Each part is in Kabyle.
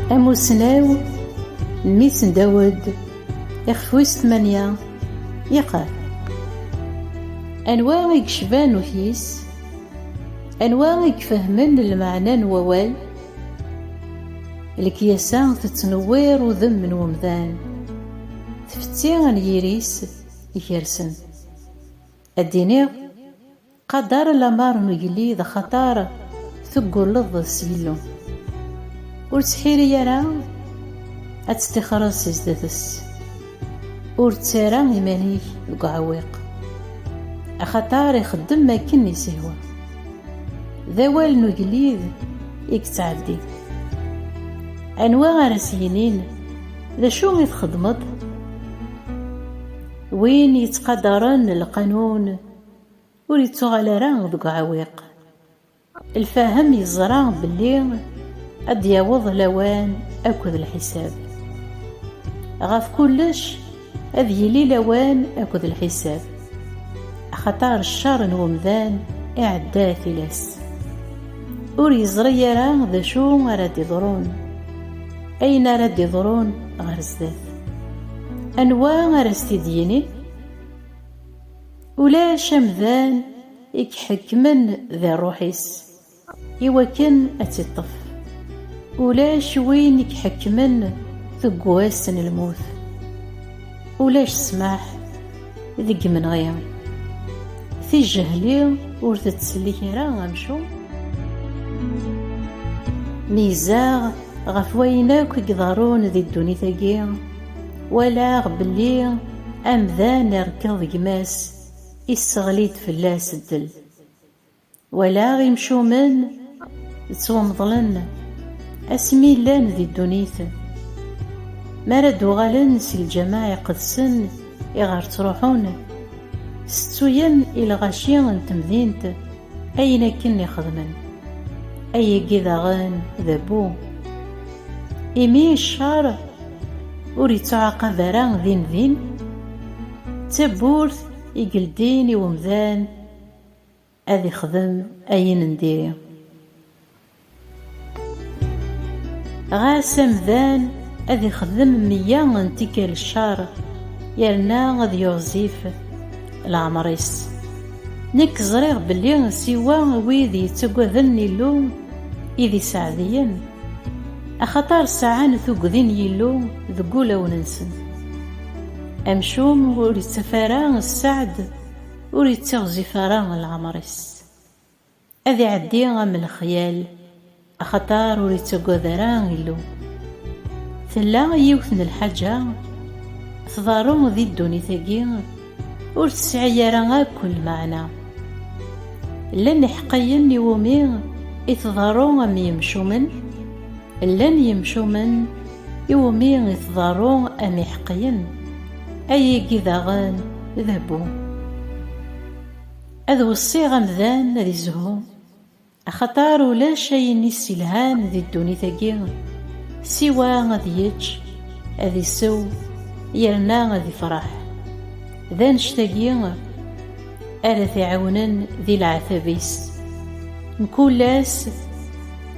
Amussnaw mmi-s n Dawed, ixef wis tmanya, iqal. Anwa i yecban ukyis? Anwa i ifehmen lmeɛna n wawal? Lekyasa tettnewwir udem n umdan, tfetti n yiri-s ikersen. Ad d-iniɣ. Qader lamer n ugellid axater teggulleḍ s Yillu. Ur ttḥiri ara ad tettixreḍ si zdat-s. Ur ttara iman-ik deg uɛewwiq, axater ixeddem akken i s-ihwa. D awal n ugellid i yettɛeddin. Anwa ara s-yinin, D acu i txeddmeḍ? Win yettqadaren lqanun. Ur yettuɣal ara deg uɛewwiq. Lfahem yeẓra belli ad d-yaweḍ lawan akked lḥisab. Ɣef kullec, ad yili lawan akked lḥisab, axaṭer ccer n umdan iɛedda tilas. Ur yeẓri ara d acu ara d-iḍrun, ayen ara d-iḍrun ɣer sdat. Anwa ara s-t-id-yinin? Ulac amdan i iḥekkmen di rruḥ-is i wakken ad tt-iṭṭef, ulac win i iḥekkmen deg wass n lmut, ulac ssmaḥ deg yimenɣi. Tijehli ur tettsellik ara amcum. Meyyzeɣ ɣef wayen akk i iḍerrun di ddunit-agi. Walaɣ belli amdan irekkeḍ gma-s, isseɣli-d fell-as ddel. Walaɣ imcumen ttwamḍlen asmi llan di ddunit. Mi ara d-uɣalen si lǧameɛ iqedsen iɣer ttruḥun, tettuyen i lɣaci n temdint, Ayen akken i xedmen, ayagi daɣen d abbu, imi ccer ur ittuɛaqab ara din din, d tawwurt i yeldin i umdan ad ixdem ayen n diri. Ɣas amdan ad ixdem meyya n tikkal ccer yerna ad yuɣzif leɛmer-is. Nekk ẓriɣ belli siwa wid yettaggaden Illu i d iseɛdiyen, axaṭer sɛan tuggdi n Yillu deg wulawen-nsen. Amcum ur ittaf ara sseɛd, ur ittiɣzif ara leɛmer-is. Ad iɛeddi am lexyal, axaṭer ur ittagad ara Illu. Tella yiwet n lḥaǧa tḍerru di ddunit-agi ur tesɛi ara akk lmeɛna. Llan iḥeqqiyen iwumi i tḍerru am yimcumen, llan yimcumen iwumi i tḍerru am iḥeqqiyen. Ayigi daɣen d bu. Ad weṣṣiɣ amdan ad izhu, axaṭer ulac ayen i s-ilhan di ddunit-agi siwa ad yečč, ad isew yerna ad ifreḥ. D annect-agi ara t-iɛiwnen di leɛtab-is. Mkul ass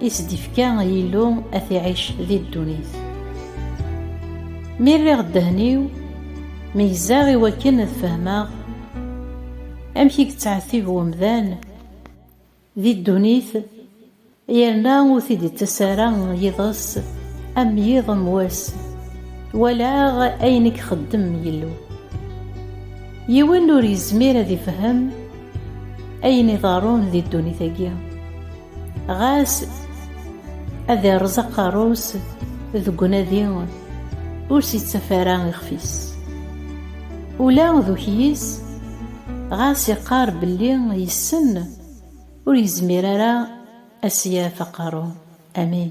i s-d-ifka Yillu ad t-iɛic di ddunit. Mi rriɣ ddehn-iw, meyyzeɣ i wakken ad fehmeɣ. Amek i yettɛettib umdan di ddunit yerna ur t-id-ittas ara yiḍes am yiḍ am wass, walaɣ ayen i ixeddem Yillu. Yiwen ur yezmir ad ifhem ayen iḍerrun di ddunit-agi. Ɣas ad irreẓ aqerru-s deg unadi, ur s-ittaf ara ixef-is. Ula d ukyis, ɣas iqqar belli yessen, ur yezmir ara ad s-yaf aqerru. Amin.